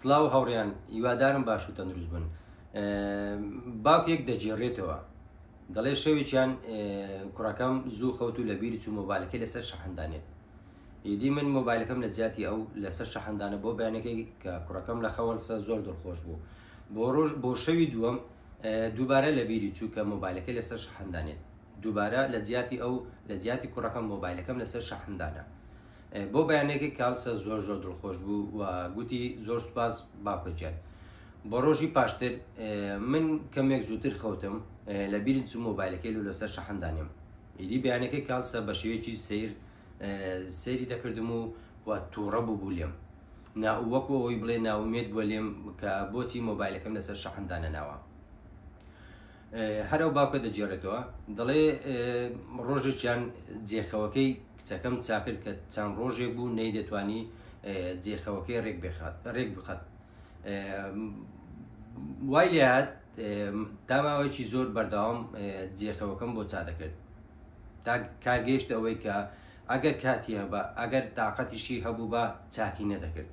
سڵاو هاوڕێیان هیوادارم باش و تەندروست بن باوکێک دەجێڕێتەوە دەڵێ شەوێکیان کوڕەکەم زوو خەوت و لەبیری چوو مۆبایلەکەی لەسەر شەحندانێت ئیدی من مۆبایلەکەم لە جیاتی ئەو لەسەر شەحندانە بۆ بەیانەکەی کە کوڕەکەم لە خەوەلسە زۆر دڵخۆش بوو بۆ ڕۆژ بۆ شەوی دووەم دووبارە لە بیری چوو کە مۆبایلەکەی لەسەر شەحندانێت دووبارە لە جیاتی ئەو لە جیاتی کوڕەکەم مۆبایلەکەم لەسەر شەحندانە بۆ بەیانێکی کالسە زۆر زۆر دڵخۆش بوو و گوتی زۆر سپاس باوکەجان بۆ ڕۆژی پاشتر من کەمێک زووتر خەوتم لە بیرن چ مۆبایلەکەی لو لەسەر شەحندانیم ئیدی بیانەکە کالسە بە شێوێکی سیر سێری دەکردم و و تووڕە بوو بوو لێم ناوەکو ئەوی بڵێ ناومێت بووە لێم کە بۆچی مۆبایلەکەم لەسەر شەحندانە ناوە هەر ئەو باوکە دەگێڕێتەوە دەڵێ ڕۆژێکیان جێخەوەکەی کچەکەم چاکرد کە چەند ڕۆژێک بوو نەی دەتوانی جێخەوەکەی ڕێک بخات ڕێک بخات وای لات داماوەیەکی زۆر بەردەوام جێخەوەکەم بۆ چا دەکرد تا کارگەشت ئەوەی کە ئەگەر کاتی هەبە ئەگەر تااقەتیشی هەبوو بە چاکی نەدەکرد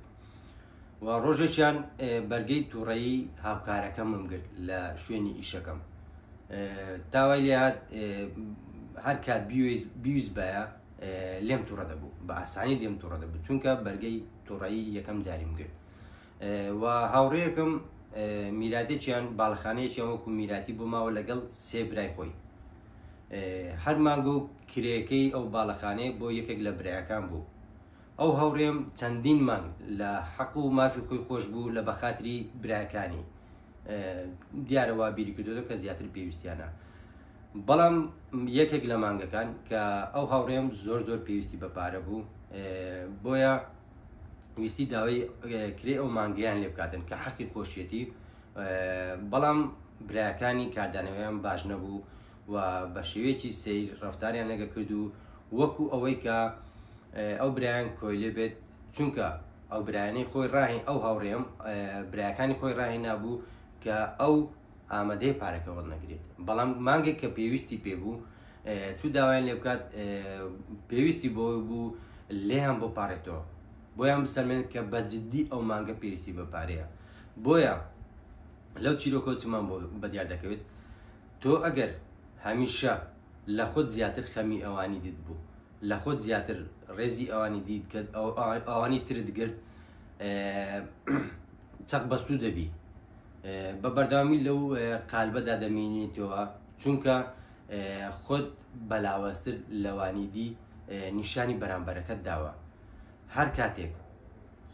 و ڕۆژێکیان بەرگەی تووڕەیی هاوکارەکەمم گرت لە شوێنی ئیشەکەم داوای لات هەر کات بیویست بایە لێم تووڕە دەبوو بە ئاسانی لێم تووڕە دەبوو چونکە بەرگەی تووڕایی یەکەم جاریم گرت و هاوڕێیەکەم میراتێکیان باڵخانەیەکیان وەکو میراتی بۆ ماوە لەگەڵ سێ برای خۆی هەر مانگۆ کرێەکەی ئەو باڵەخانەیە بۆ یەکێک لە برایەکان بوو ئەو هاوڕێم چەندین مانگ لە حەق و مافی خۆی خۆش بوو لە بەخاتری براکانی دیارەوە بیری کردو کە زیاتر پێویستیانە بەڵام یەکێک لە مانگەکان کە ئەو هاوڕێم زۆر زۆر پێویستی بە پارە بوو بۆیە ویستی داوای کرێ ئەو مانگیان لێ بکاتن کە حەقی خۆشیەتی بەڵام براکانی کاردانەوەیان باش نەبوو و بە شێوەیەکی سیر ڕفتاریان لەگە کرد و وەکو ئەوەی کە ئەو برایان کۆیلێ بێت چونکە ئەو برایانی خۆی ڕاهین ئەو هاوڕێم براکانی خۆی ڕاهی نابوو کە ئەو ئامادەی پارەکەوەڵ نەگرێت بەڵام مانگێک کە پێویستی پێ بوو چو داوایان لێ بکات پێویستی بۆ بوو لێیان بۆ پارێتەوە بۆیان بسەمێن کە بە جددی ئەو مانگە پێویستی بە پارەیە بۆیە لەو چیرۆکۆچمان بۆ بەدیار دەکەوێت تۆ ئەگەر هەمیشە لە خۆت زیاتر خەمی ئەوانی دیت بوو لە خۆت زیاتر ڕێزی ئەوانی دیت کە ئەوانی ترت گرت چەق بەستوو دەبی بە بەرداوامی لەو قالبەدا دەمێنیتەوە چونکە خۆت بەلاوەستر لەوانی دی نیشانی بەرامبەرەکەت داوە هەر کاتێک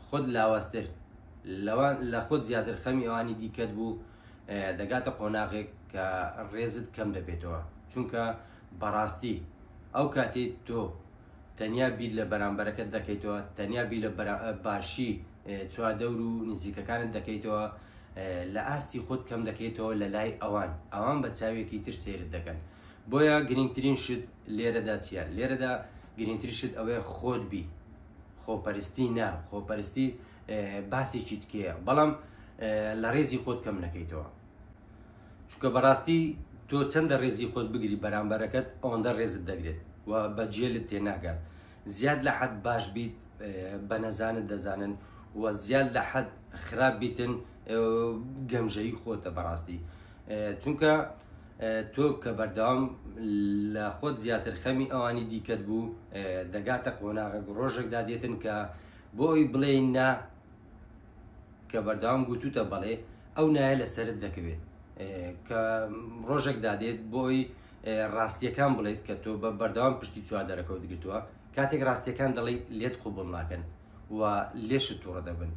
خۆت لاوەستر لەوان لە خۆت زیاتر خەمی ئەوانی دیکەت بوو دەگاتە قۆناغێک کە ڕێزت کەم دەبێتەوە چونکە بەڕاستی ئەو کاتی تۆ تەنیا بیر لە بەرامبەرەکەت دەکەیتەوە تەنیا بیر لە باشی چواردەور و نزیکەکانت دەکەیتەوە لە ئاستی خۆت کەم دەکەیتەوە لە لای ئەوان ئەوان بە چاوێکی تر سێرت دەکەن بۆیە گرنگترین شت لێرەدا چیە لێرەدا گرنگتر شت ئەوەیە خۆت بی خۆپەرستی نا خۆپەرستی باسێکی تکەیە بەڵام لە ڕێزی خۆت کەم نەکەیتەوە چکە بەڕاستی تۆ چەندە ڕێزی خۆت بگری بەرامبەرەکەت ئەوەندە ڕێزت دەگرێت و بەجێلت تێناگات زیاد لە حەد باش بیت بە نەزانت دەزانن و زیاد لە حەد خراپ بیتن گەمژەی خۆتە بەڕاستی چونکە تۆ کە بەردەوام لە خۆت زیاتر خەمی ئەوانی دیکەت بوو دەگاتە قۆناغە ڕۆژێکدا دێتن کە بۆ ئەوی بڵێین نا کە بەردەوام گوتوتە بەڵێ ئەو نایە لە سرت دەکەوێت کە ڕۆژێک دادێت بۆی ڕاستیەکان بڵێت کە تۆ بە بەردەوام پشتی چوار دەرەکەوت گرتووە کاتێک ڕاستیەکان دەڵی لێت قوبڵ ناکەن و لێشت تووڕە دەبن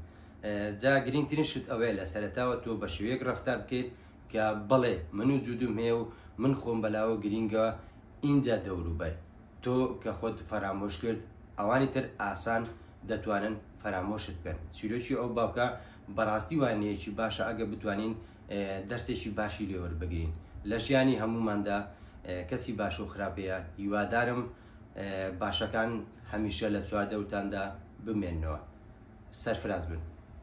جا گرنگترین شت ئەوەیە لە سەرتاوە تۆ بە شێوەیەک ڕفتار بکەیت کە بەڵێ من و جودوم هەیە و من خۆم بەلاوە گرینگە ئینجا دەوروبەر تۆ کە خۆت فەرامۆش کرد ئەوانی تر ئاسان دەتوانن فەرامۆشت بن چیرۆکی ئەو باوکە بەڕاستی وانەیەکی باشە ئەگە بتوانین دەرسێکی باشی لێوەر بگرین لە ژیانی هەموماندا کەسی باش و خراپەیە هیوادارم باشەکان هەمیشە لە چواردەوتاندا بمێنەوە سەرفراز بن